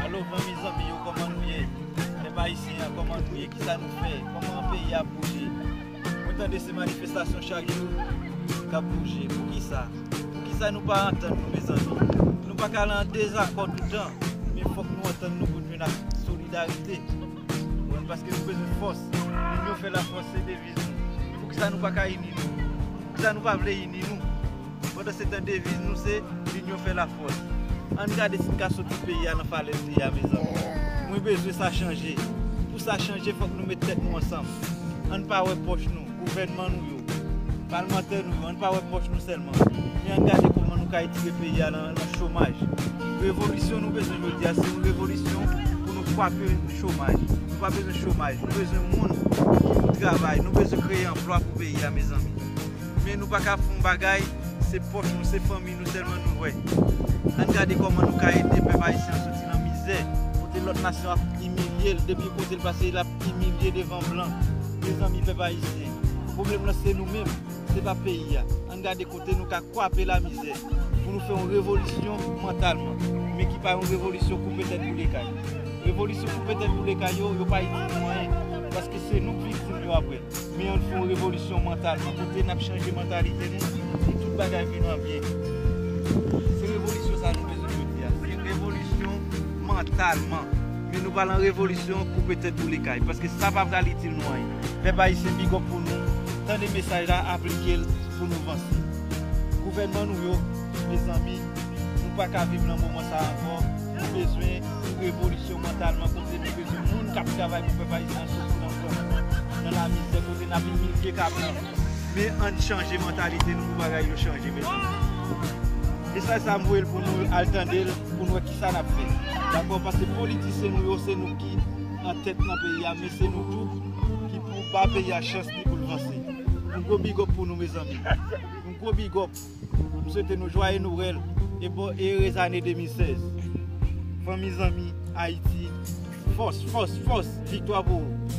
Alo fanmi zanmi yo koman nou ye pèp ayisyen an koman nou ye kisa nou fè koman peyi ap bouje mwen tande se manifestasyon chak jou kap bouje poukisa poukisa nou pa antann nou mezanmi nou paka al an dezakò toutan men fòk nou antann nou pou nou jwenn ak solidarite paske nou bezwen fòs moun yo fè lafòs se devine. Poukisa nou pa ka ini nou? Poukisa nou pa vle ini nou? Pandan se tan deviz nou se L'union fait la force. Ann gade si n ka soti peyi a nan falèz li a mezanmi. Mwen bezwen sa chanje. Pou sa chanje fòk nou met tèt nou ansanm. Ann pa wè pòch nou, gouvènman nou yo, palmantè nou yo. Nou pa wè pòch nou sèlman, men ann gade kòman nou ka etire peyi a nan chomaj. Revolisyon nou bezwen jodi a se yon revolisyon pou nou kwape chomaj. Nou pa bezwen chomaj, nou bezwen moun ki pou travay, nou bezwen kreye anplwa pou peyi a mezanmi. Men nou pa ka fè yon bagay se pòch nou, se fanmi nou sèlman nou wè. Ann gade kòman nou ka ede pèp ayisyen an soti nan mizè. Kote lòt nasyon ap imilye l, depi kote l pase l ap imilye devan blan. Mezanmi pèp ayisyen, pwoblèm lan se nou menm. Se pa peyi a. Ann gade kote nou ka kwape lamizè pou nou fè yon revolisyon mantalman, men ki pa yon revolisyon koupe tèt boule kay. Revolisyon koupe tèt boule kay yo, yo pa itil nou anyen, paske se nou k viktim yo aprè. Men ann fè yon revolisyon mantalman, kote n ap chanje mantalite nou pou tout bagay vin an byen. Se revolisyon sa a nou bezwen jodi a. Se revolisyon mantalman. Men nou pa lan revolisyon koupe tèt boule kay paske sa pa pral itil nou anyen. Pèp ayisyen big up pou nou, tande mesaj la aplikel pou nou vanse. Gouvènman nou yo, mezanmi nou paka viv lan moman sa ankò, nou bezwen yon revolisyon mantalman kote nou bezwen moun kap travay pou pèp ayisyen an soti lan kòm, lan la mizè kote nap imilye ka blan. Men ann chanje mantalite nou pou bagay yo chanje mezanmi. Mesaj sa m voyel pou nou al tandel pou nou wè Sa nap fè? Dakò pase politisyen nou yo se nou ki an tèt nan peyi a men se nou tou ki pou ba peyi a chans li poul vanse. Yon gwo big up pou nou mezanmi. Yon gwo big up. M swete nou jwaye nowèl e bon e ere zane 2016. Fanmi zanmi Ayiti fòs fòs fòs viktwa pou ou.